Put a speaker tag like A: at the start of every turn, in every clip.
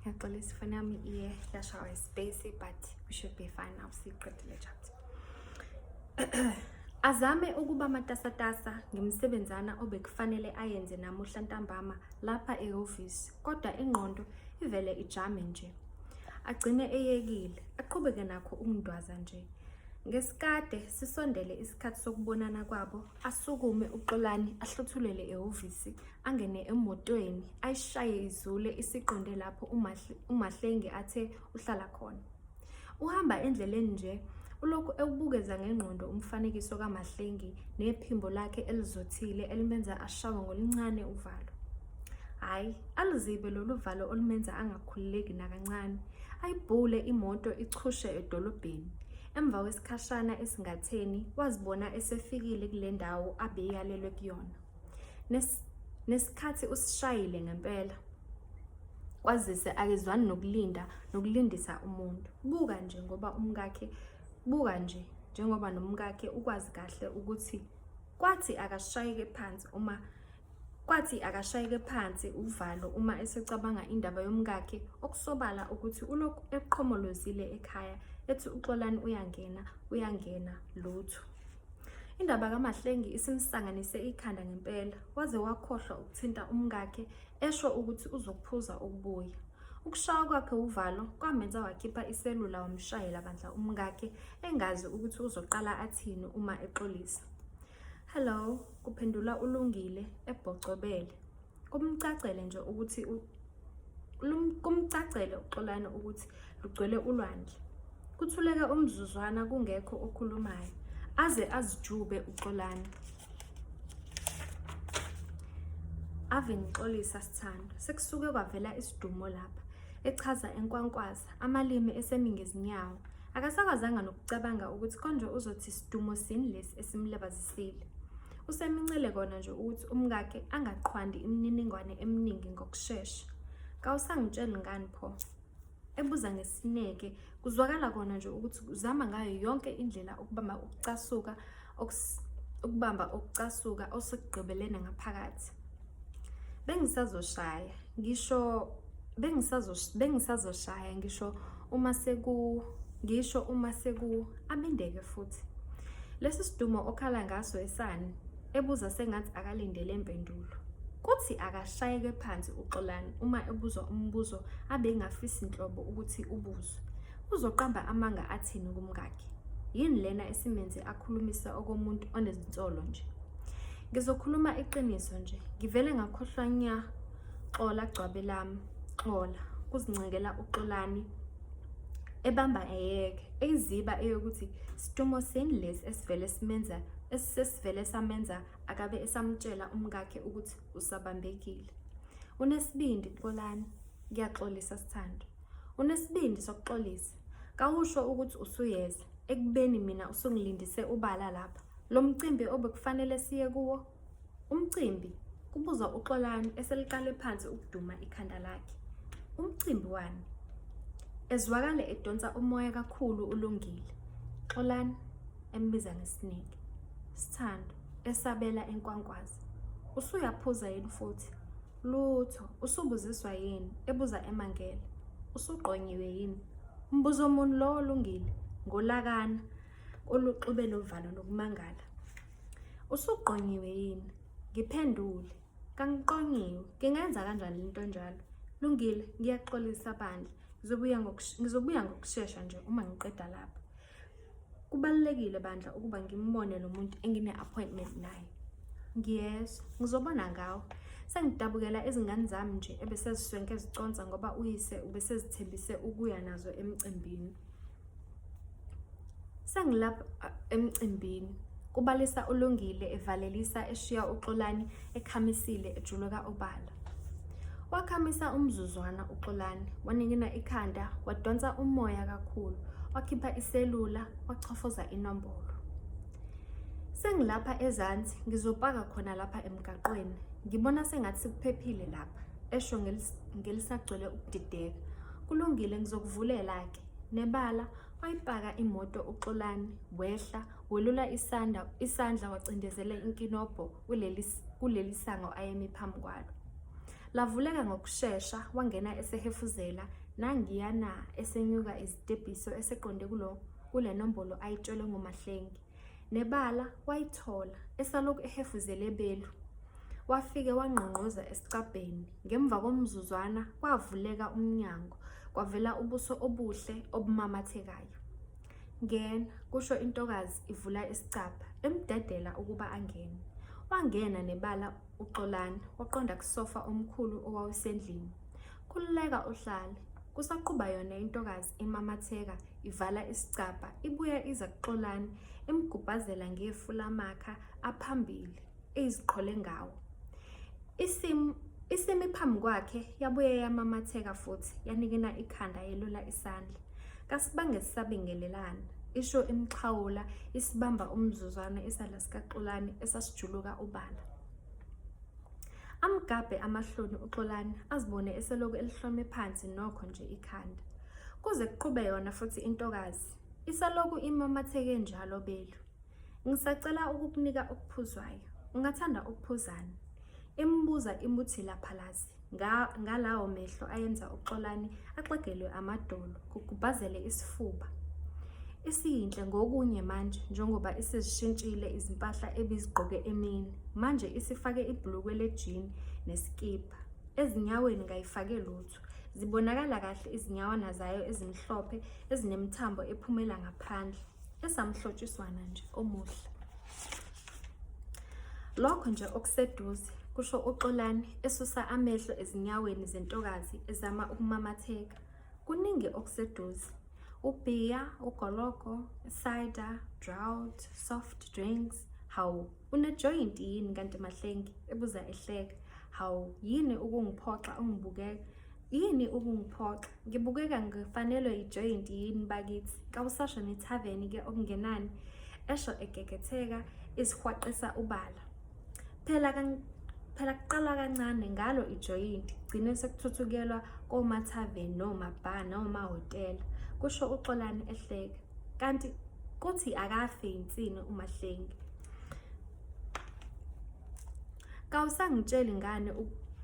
A: Ngiyacela isifoni yami iye yashawa ispace but we should be fine now siqedile chapter. Azame ukuba matasatasa ngemsebenzana obekufanele ayenze namuhla ntambama lapha ehhovisi kodwa ingqondo ivele ijame nje. Agcine eyekile, aqhubeke nakho ukundwaza nje. Ngesikade sisondele isikhathi sokubonana kwabo, asukume uXolani ahluthulele ehhovisi angene emotweni ayishaye izule isiqonde lapho umahlenge athe uhlala khona uhamba endleleni nje ulokhu ewubukeza ngengqondo umfanekiso kamahlengi nephimbo lakhe elizothile elimenza ashawe ngolincane uvalo hhayi aluzibe lolu valo olumenza angakhululeki nakancane ayibhule imoto ichushe edolobheni emva kwesikhashana esingatheni wazibona esefikile kule ndawo abeyalelwe kuyona Nes, nesikhathi usishayile ngempela kwazise akezwani nokulinda nokulindisa umuntu buka nje ngoba umkakhe buka nje njengoba nomkakhe ukwazi kahle ukuthi kwathi akashayeke phansi uma kwathi akashayeke phansi uvalo uma esecabanga indaba yomkakhe okusobala ukuthi ulokhu eqhomolozile ekhaya ethi uxolani uyangena uyangena lutho Indaba kaMahlengi isimsanganise ikhanda ngempela, waze wakhohlwa ukuthinta umkakhe esho ukuthi uzokuphuza ukubuya. Ukushaya kwakhe uvalo kwamenza wakhipha iselula wamshayela bandla umkakhe engazi ukuthi uzoqala athini uma exolisa. Hello, kuphendula uLungile ebhocobele. kumcacele nje ukuthi kumcacele uxolani ukuthi lugcwele ulwandle kuthuleke umzuzwana kungekho okhulumayo aze azijube uxolani ave ngixolisa sithando sekusuke kwavela isidumo lapha echaza enkwankwaza amalimi esemingezinyawo Akasakwazanga nokucabanga ukuthi konje uzothi sidumo sini lesi esimlabazisile. Usemincele kona nje ukuthi umkakhe angaqhwandi imininingwane eminingi ngokushesha. Kawusangitsheli ngani pho? Ebuza ngesineke, kuzwakala kona nje ukuthi uzama ngayo yonke indlela ukubamba ukucasuka ukubamba ukucasuka osekugqibelene ngaphakathi bengisazoshaya ngisho bengisazoshaya ngisho uma seku ngisho uma seku abendeke futhi lesi sidumo okhala ngaso esani ebuza sengathi akalindele impendulo kuthi akashayeke phansi uxolani uma ebuzwa umbuzo abengafisi nhlobo ukuthi ubuzwe Uzoqamba amanga athini kumkakhe? Yini lena esimenze akhulumisa okomuntu onezinsolo nje? Ngizokhuluma iqiniso nje, ngivele ngakhohlwa nya. Xola gcwabe lami, xola. Kuzincengela uxolani ebamba eyeke eyiziba eyokuthi situmo sini lesi esivele simenza esisesivele samenza akabe esamtshela umkakhe ukuthi usabambekile. Unesibindi Xolani, ngiyaxolisa sithando. unesibindi sokuxolisa kawusho ukuthi usuyeza ekubeni mina usungilindise ubala lapha lo mcimbi obekufanele siye kuwo umcimbi kubuza uxolani eseliqale phansi ukuduma ikhanda lakhe umcimbi wani ezwakale edonsa umoya kakhulu ulungile xolani embiza ngesineke sithando esabela enkwankwazi usuyaphuza yini futhi Lutho, usubuziswa yini? ebuza emangele. Usugqonyiwe yini? Mbuzo muni lowo olungile? Ngolakana oluxube novalo lokumangala. Usugqonyiwe yini? Ngiphendule. Kangiqonyiwe. Ngingenza kanjani lento enjalo? Lungile, ngiyaxolisa bandla. Ngizobuya ngokushesha nje uma ngiqeda lapha. kubalulekile bandla ukuba ngimbone lo muntu engine-appointment naye ngiyezwa ngizobona ngawo sengidabukela izingane zami nje ebeseziswenke ziconsa ngoba uyise ubesezithembise ukuya nazo emcimbini sengilapha emcimbini kubalisa uLungile evalelisa eshiya uXolani ekhamisile ejuluka obala. Wakhamisa umzuzwana uXolani, waningina ikhanda, wadonsa umoya kakhulu, wakhipha iselula, wachofoza inombolo. Sengilapha ezansi, ngizopaka khona lapha emgaqweni. Ngibona sengathi sikuphephile lapha, esho ngelisagcwele ukudideka. Kulungile ngizokuvulela-ke. Nebala wayipaka imoto uXolani, wehla, Welula isanda, isandla wacindezela inkinobho kuleli, kuleli sango ayemi phambi kwalo. Lavuleka ngokushesha wangena esehefuzela nangiyana esenyuka izitebhiso eseqonde kulo kule nombolo ayitshelwe ngumahlengi. Nebala wayithola esalokhu ehefuzele ebelu. Wafike wangqongqoza esicabheni. Ngemva komzuzwana kwavuleka umnyango kwavela ubuso obuhle obumamathekayo. Ngena, kusho intokazi ivula isicabha, emdedela ukuba angene. Wangena nebala uXolani, waqonda kusofa omkhulu owawusendlini. Khululeka uhlale. Kusaquba yona intokazi imamatheka, ivala isicabha, ibuya iza kuXolani, imgubhazela ngefu lamakha aphambili, eyiziqhole ngawo. Isim isimi phambi kwakhe yabuye yamamatheka futhi yanikina ikhanda yelula isandla kasibange sisabingelelana isho imxhawula isibamba umzuzwana isala sikaxolani esasijuluka ubala amgabhe amahloni uxolani azibone eseloku elihlome phansi nokho nje ikhanda kuze kuqhube yona futhi intokazi isaloku imamatheke njalo belu ngisacela ukukunika okuphuzwayo ungathanda ukuphuzana imbuza imuthi laphalazi ngalawo mehlo ayenza uxolani axegelwe amadolo kugubhazele isifuba isiyinhle ngokunye manje njengoba isizishintshile izimpahla ebizigqoke emini manje isifake ibhulukwe lejini nesikibha ezinyaweni kayifake lutho zibonakala kahle izinyawana zayo ezimhlophe ezinemthambo ephumela ngaphandle esamhlotshiswana nje omuhle Lokho nje okuseduze, kusho uXolani esusa amehlo ezinyaweni zentokazi ezama ukumamatheka. Kuningi okuseduze. Ubhiya, ugologo, cider, drought, soft drinks. Hawu, unejoint yini kanti mahlengi? ebuza ehleka. Hawu, yini ukungiphoxa ungibukeka? yini ukungiphoxa ngibukeka ngifanelwe ijoyinti yini bakithi kawusasho nethaveni ke okungenani esho egegetheka isihwaqisa ubala phela phela kuqala kancane ngalo ijoyinti gcine sekuthuthukelwa komathaveni nomabha nomahhotela kusho uxolani ehleka kanti kuthi akafe yinsini umahlengi kawusangitsheli ngane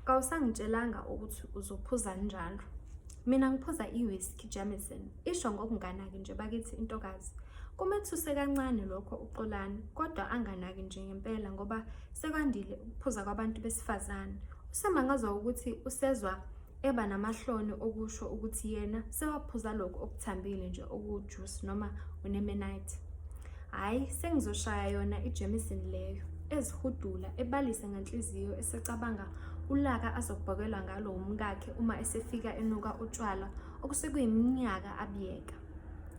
A: kawusangitshelanga ukuthi uzophuza njalo mina ngiphuza i-whisky jamison isho ngokunganaki nje bakithi intokazi kumethuse kancane lokho uxolani kodwa anganaki nje ngempela ngoba sekwandile ukuphuza kwabantu besifazane usemangazwa ukuthi usezwa eba namahloni okusho ukuthi yena sewaphuza lokhu okuthambile nje okuwujuice noma unemenite hhayi sengizoshaya yona ijameson leyo ezihudula ebalise ngenhliziyo esecabanga ulaka azokubhokelwa ngalo wumkakhe uma esefika enuka utshwala okusekuyiminyaka abiyeka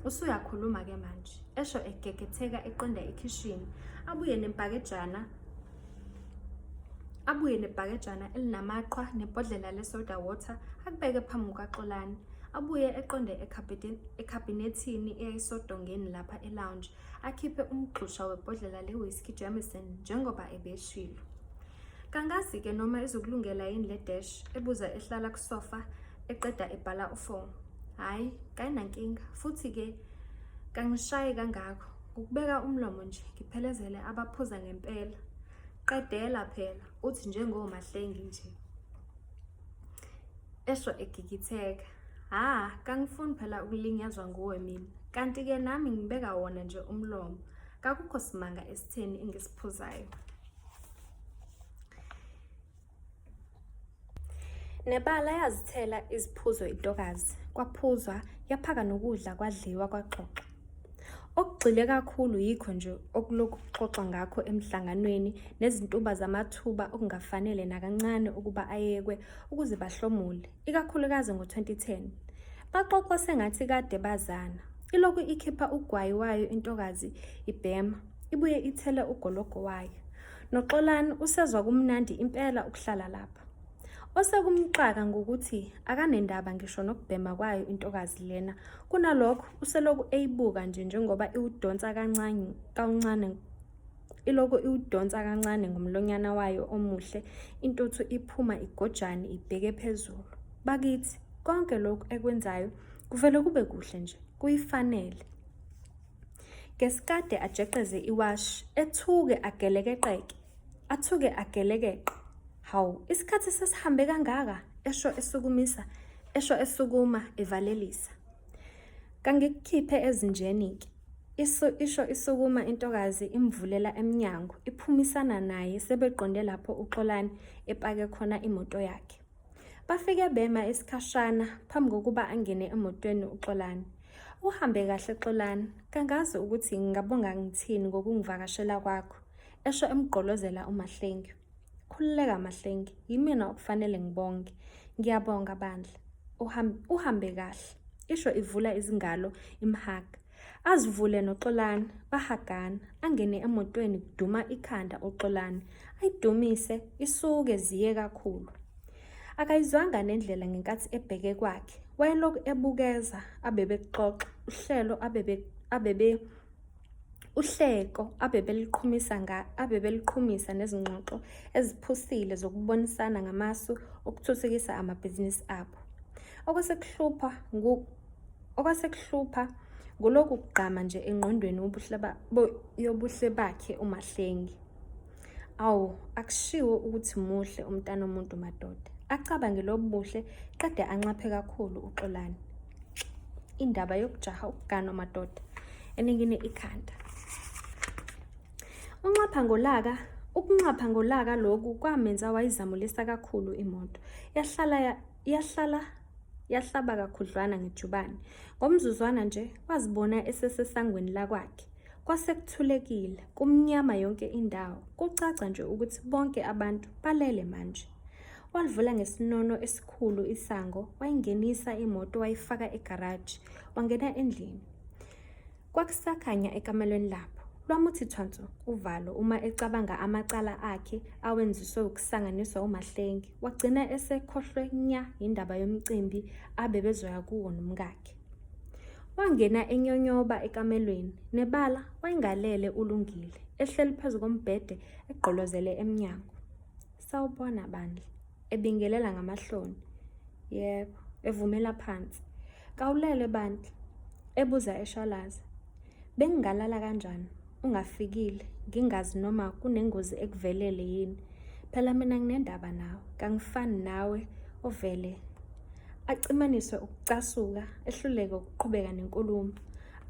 A: usuyakhuluma-ke manje esho egegetheka eqonda ekhishini abuye nempakejana abuye nebhakejana elinamaqhwa nebhodlela lesoda water akubeke phambi kukaxolani abuye eqonde ekhabinethini eyayisodongeni lapha elounge akhiphe umgxusha webhodlela le-whisky jameson njengoba ebeshilo kangazi-ke noma izokulungela yini le dash ebuza ehlala kusofa eqeda ebhala ufo hhayi kayinankinga futhi-ke kangishayi kangako Ukubeka umlomo nje ngiphelezele abaphuza ngempela. Qedela phela uthi njengomahlengi nje. Esho egigitheka. Ha, kangifuni phela ukulinyazwa nguwe mina. Kanti ke nami ngibeka wona nje umlomo. Kakukho simanga esitheni engisiphuzayo. Nebala yazithela iziphuzo intokazi, kwaphuzwa, yaphaka nokudla kwadliwa kwaxoxa. Okugxile kakhulu yikho nje okulokhu kuxoxwa ngakho emhlanganweni nezintuba zamathuba okungafanele nakancane ukuba ayekwe ukuze bahlomule, ikakhulukazi ngo-2010. Baxoxwa sengathi kade bazana. Ilokhu ikhipha ugwayi wayo intokazi ibhema, ibuye ithele ugologo wayo. Noxolani usezwa kumnandi impela ukuhlala lapha. Osekumxaka ngokuthi akanendaba ngisho nokubhema kwayo intokazi lena, kunalokho useloku eyibuka nje njengoba iwudonsa kancane kancane iloko iwudonsa kancane ngomlonyana wayo omuhle, intuthu iphuma igojane ibheke phezulu. Bakithi konke lokhu ekwenzayo kuvele kube kuhle nje, kuyifanele. Ngesikade ajeqeze iwashi, ethuke agelekeqeke, athuke agelekeqe. Hawu, isikhathi sesihambe kangaka, esho esukumisa, esho esukuma evalelisa. Kangikukhiphe ezinjeni-ke. Isu isho isukuma intokazi imvulela emnyango, iphumisana naye sebeqonde lapho uXolani epake khona imoto yakhe. Bafike bema isikhashana phambi kokuba angene emotweni uXolani. Uhambe kahle Xolani, kangazi ukuthi ngingabonga ngithini ngokungivakashela kwakho, esho emgqolozela uMahlengi. Khululeka Mahlengi, yimina okufanele ngibonge. Ngiyabonga bandla. Uhambe kahle, isho ivula izingalo imhaga. Azivule noXolani bahagana angene emotweni kuduma ikhanda uXolani ayidumise isuke ziye kakhulu. Akayizwanga nendlela ngenkathi ebheke kwakhe wayelokhu ebukeza abebekuxoxa uhlelo abebe abebe uhleko abebeliqhumisa nga abebeliqhumisa nezingxoxo eziphusile zokubonisana ngamasu okuthuthukisa amabhizinisi abo. Okwasekuhlupha ngu Okwasekuhlupha nguloku kugqama nje engqondweni yobuhle bakhe uMahlengi. Awu, akushiwo ukuthi muhle umntana omuntu madoda. Acabange lobu buhle qede anxaphe kakhulu uXolani. Indaba yokujaha ukuganwa madoda eningine ikhanda. Unxapha ngolaka ukunxapha ngolaka lokhu kwamenza wayizamulisa kakhulu imoto. Yahlala Yahlala yahlaba kakhudlwana ngejubane. Ngomzuzwana nje wazibona esesesangweni lakwakhe. Kwase kuthulekile, kumnyama yonke indawo. Kucaca nje ukuthi bonke abantu balele manje. Walivula ngesinono esikhulu isango, wayingenisa imoto wayifaka egaraji, wangena endlini. Kwakusakhanya ekamelweni lapho. Lwamuthi thwanso uvalo uma ecabanga amacala akhe awenziswe ukusanganiswa uMahlengi. Wagcina esekhohlwe nya yindaba yomcimbi abebezoya kuwo nomkakhe. Wangena enyonyoba ekamelweni, nebala wayengalele ulungile, ehleli phezu kombhede egqolozele emnyango. Sawubona bandla. Ebingelela ngamahloni. Yebo, evumela phansi. Kawulele bandla. Ebuza eshalaza. Bengingalala kanjani? Ungafikile, ngingazi noma kunengozi ekuvelele yini. Phela mina nginendaba nawe, kangifani nawe ovele acimaniswe ukucasuka ehluleke ukuqhubeka nenkulumo.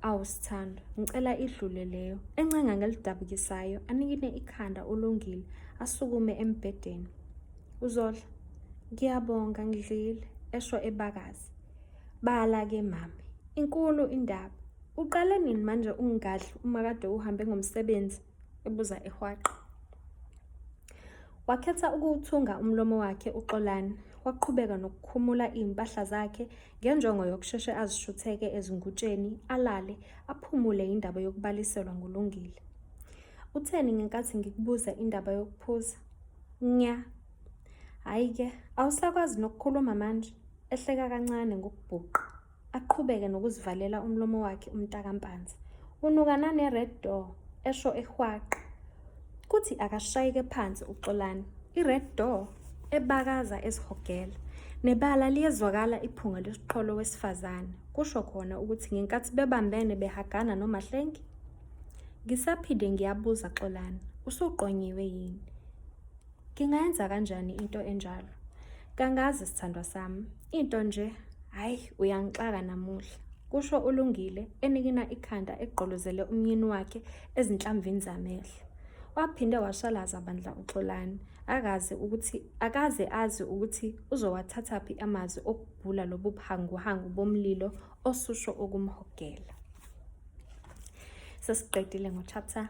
A: Awu sithando, ngicela idlule leyo. Encenga ngelidabukisayo, anikine ikhanda ulungile, asukume embhedeni. Uzodla, ngiyabonga ngidlile, esho ebakazi. Bala ke mami, inkulu indaba. Uqale nini manje ungadli uma kade uhambe ngomsebenzi? ebuza ehwaqa. Wakhetha ukuwuthunga umlomo wakhe uXolani, waqhubeka nokukhumula izimpahla zakhe ngenjongo yokusheshe azishutheke ezingutsheni, alale, aphumule indaba yokubaliselwa nguLungile. Utheni ngenkathi ngikubuza indaba yokuphuza? Nya. Hhayi-ke, awusakwazi nokukhuluma manje, ehleka kancane ngokubhuqa. Aqhubeke nokuzivalela umlomo wakhe umntakampanza. Unuka nane-red door, esho ehwaqa. Kuthi akashayeke phansi uxolani. I-red door ebakaza ezihogela. Nebala liyezwakala iphunga lesiqholo wesifazane. Kusho khona ukuthi ngenkathi bebambene behagana nomahlengi. Ngisaphinde ngiyabuza xolani, usuqonyiwe yini? Ngingayenza kanjani into enjalo? Kangazi sithandwa sami, into nje hayi uyangixaka namuhla, kusho uLungile enikina ikhanda egqolozele umyeni wakhe ezinhlamvini zamehlo. Waphinde washalaza bandla uXolani, akaze ukuthi akaze azi ukuthi uzowathathaphi amazwi okubhula lobu buhanguhangu bomlilo osusho ukumhogela. Sesiqedile ngo-chapter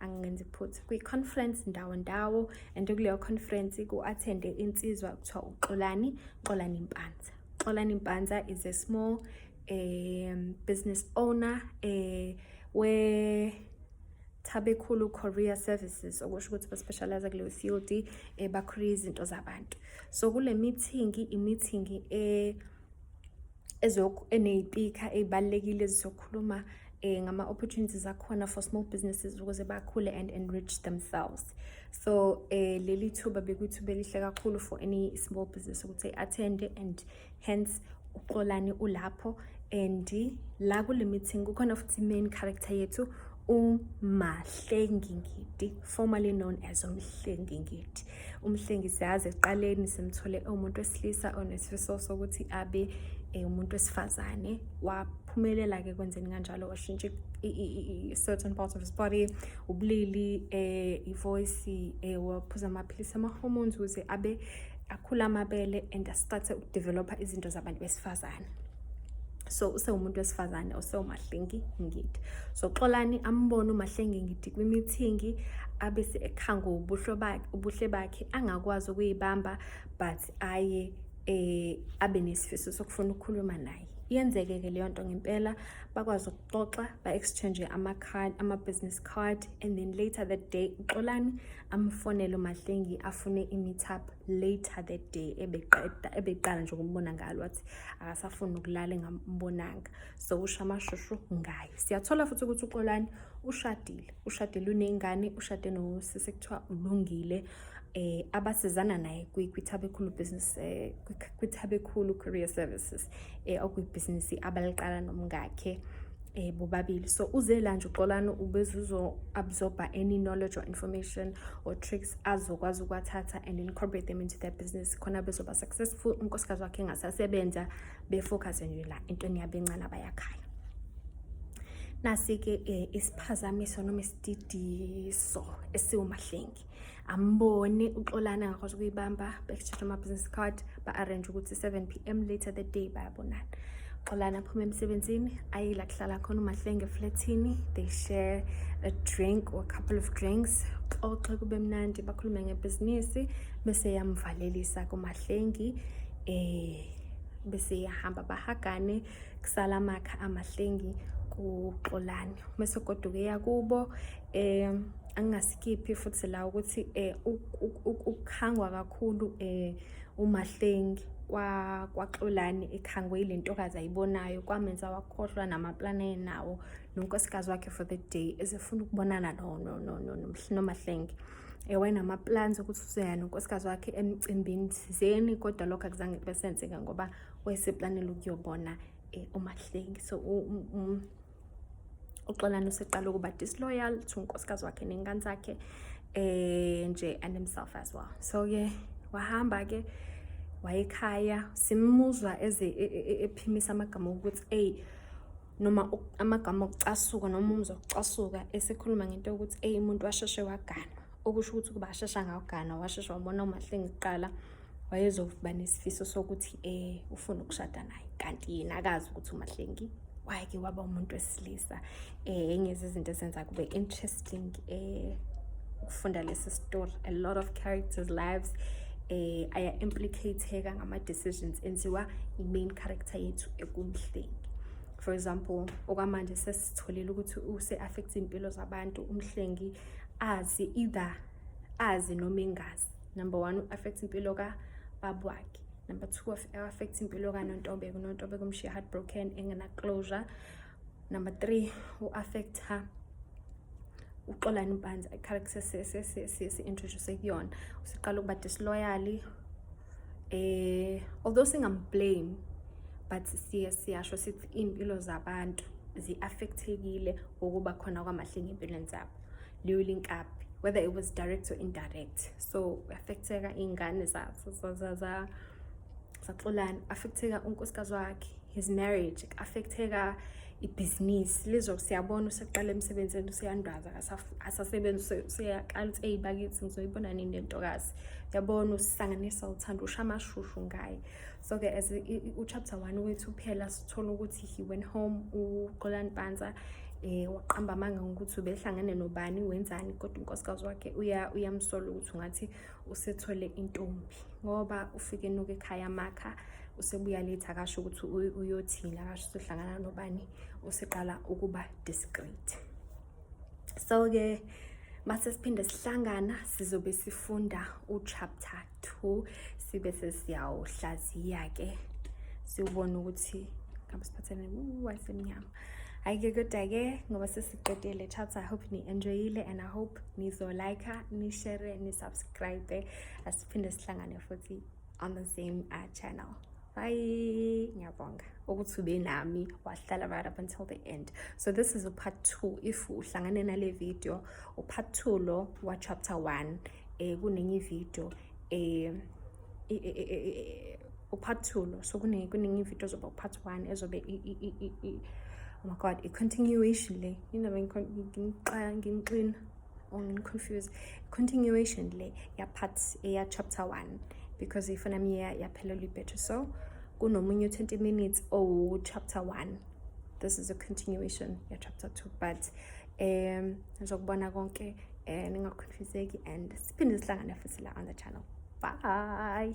A: angenzi iphutha kwi-conference ndawo ndawo and kuleyo conference ku-athende insizwa kuthiwa uxolani xolani mpanza xolani mpanza is a small um, business owner um, where Tabekhulu Career Services okusho ukuthi baspecialize kuleyo field eh bakhulisa izinto zabantu so kule meeting i meeting eh eneyipikha ey'balulekile ezizokhuluma eh, ngama-opportunities akhona for small businesses ukuze bakhule and enrich themselves so eh, leli thuba bekuthi belihle kakhulu for any small business ukuthi i-attende and hence uxolani ulapho and la kule meeting kukhona futhi main character yethu uMahlengingidi formerly known as uMhlengingidi umhlengisiyazi ekuqaleni simthole umuntu wesilisa onesifiso sokuthi abe eh, umuntu wesifazane waphumelela ke kwenzeni kanjalo washintsha i-certain part of his body ubulili um eh, ivoyisi um eh, waphuza amaphilisi ama-hormones ukuze abe akhula amabele and astarte ukudevelopha izinto zabantu besifazane so usewumuntu wesifazane osewumahlengi ngidi so xolani ambone umahlengi ngidi kwimithingi abese ekhanga ubuhle bakhe ubuhle bakhe angakwazi ukuyibamba but aye eh abe nesifiso sokufuna ukukhuluma naye iyenzeke ke leyo nto ngempela bakwazi ukuxoxa ba-exchange ama-card ama-business card and then later that day uxolani amfonele umahlengi afune i-meetup later that day ebeqeda ebeqala nje ukumbona ngalo wathi akasafuni ukulala engambonanga so usho amashushu ngaye siyathola futhi ukuthi uxolani ushadile ushadile uney'ngane ushade nosisi kuthiwa ulungile eh abasizana naye kwiThabekhulu business eh, kwiThabekhulu career services eh okuyibhizinisi abaliqala nomngakhe eh bobabili so uze la nje uxolani ubeze uzo absorber any knowledge or information or tricks azokwazi ukwathatha and incorporate them into their business khona bezoba successful unkosikazi wakhe engasasebenza befocus nje la entweni yabo encane abayakhaya nasi-ke um isiphazamiso noma isididiso esiwumahlengi amboni uxolana ngakwazi ukuyibamba bekutshela ama-business card ba-arrange ukuthi 7 p m later the day bayabonana uxolana aphuma emsebenzini ayila kuhlala khona umahlenge eflathini they share a drink or a couple of drinks xoxe kube mnandi bakhulume ngebhizinisi bese yamvalelisa kumahlengi eh bese yahamba bahagane kusala amakha amahlengi kuxolane mese goduke yakubo um angingasikiphi futhi la ukuthi um ukukhangwa kakhulu um umahlengi kwaxolani ekhangwe yile ntokazi ayibonayo kwamenza wakhohlwa namaplani ayenawo nonkosikazi wakhe for the day ezefuna ukubonana nomahlenge ewayenamaplans ukuthi uzoya nonkosikazi wakhe emcimbini thizeni kodwa lokho akuzange kube senzeka ngoba wayeseplanela ukuyobona um umahlengi so uxolani useqala ukuba disloyal to unkosikazi wakhe ney'ngane zakhe eh nje and himself as well so ke wahamba ke wayekhaya simuzwa eze e, e, e, ephimisa amagama okuthi eyi noma amagama okucasuka noma umuzwa okucasuka esekhuluma ngento yokuthi eyi umuntu washeshe waganwa okusho ukuthi ukuba ashesha ngawugana washesha wabona umahlenge kuqala wayezoba nesifiso sokuthi eh ufuna ukushada naye kanti yena akazi ukuthi umahlengi wake waba umuntu wesilisa eh enye izinto esenza kube interesting eh ukufunda lesi story a lot of characters lives eh aya implicateka ngama decisions enziwa i main character yethu ekumhlengi for example okwamanje sesitholile ukuthi use affect impilo zabantu umhlengi azi either azi noma engazi number one u-affect impilo kababa wakhe number two affect impilo kanontobeko unontobeko umshiya heartbroken engena-closure number three u-affecta uxolani mpanza i-character si-introduce kuyona usiqala ukuba disloyally eh although singamblame but siye siyasho sithi iy'mpilo zabantu zi-affectekile ngokuba khona kwamahlenge empilweni zabo liyolink up whether it was direct or indirect so affecteka iy'ngane zaxolana affecteka unkosikazi wakhe his marriage affecteka ibhizinisi lizo siyabona useqala emsebenzini useyandwaza asasebenzi useyaqala ukuthi eyi bakithi ngizoyibona nini le ntokazi yabona usisanganisa uthanda usha amashushu ngaye so ke as uchapter one wethu phela sithola ukuthi he went home uxolani pansa eh waqamba amanga ngokuthi ubehlangene nobani wenzani kodwa unkosikazi wakhe uya uyamsola ukuthi ngathi usethole intombi ngoba ufike noke ekhaya makha usebuya late akasho ukuthi uyothini akasho usehlangana nobani useqala ukuba discreet so-ke mase siphinde sihlangana sizobe sifunda uchapter 2 sibe sesiyawuhlaziya-ke siwubone ukuthi ngabe siphathene wasemnyama hhayi-ke kodwa-ke ngoba sesiqedile chapter i hope ni-enjoyile and i hope nizolike nishere nisubscribe asiphinde sihlangane futhi on the same uh, channel hayi ngiyabonga ukuthi ube nami wahlala right up until the end so this is upart two if uhlangane nale video upart two lo wachapter one um kunenye ividio um upart two lo so kunenye ividio ozoba upart one ezobe oh my god i-continuation le yinaba ngimxina ungiconfuse continuation le ya part eya chapter 1 because ifana miya yaphelelwa ibhetri so kunomunye 20 minutes owu chapter 1 this is a continuation ya chapter 2 but um nizokubona konke um ningaconfuseki and siphinde sihlangane futhi la on the channel bye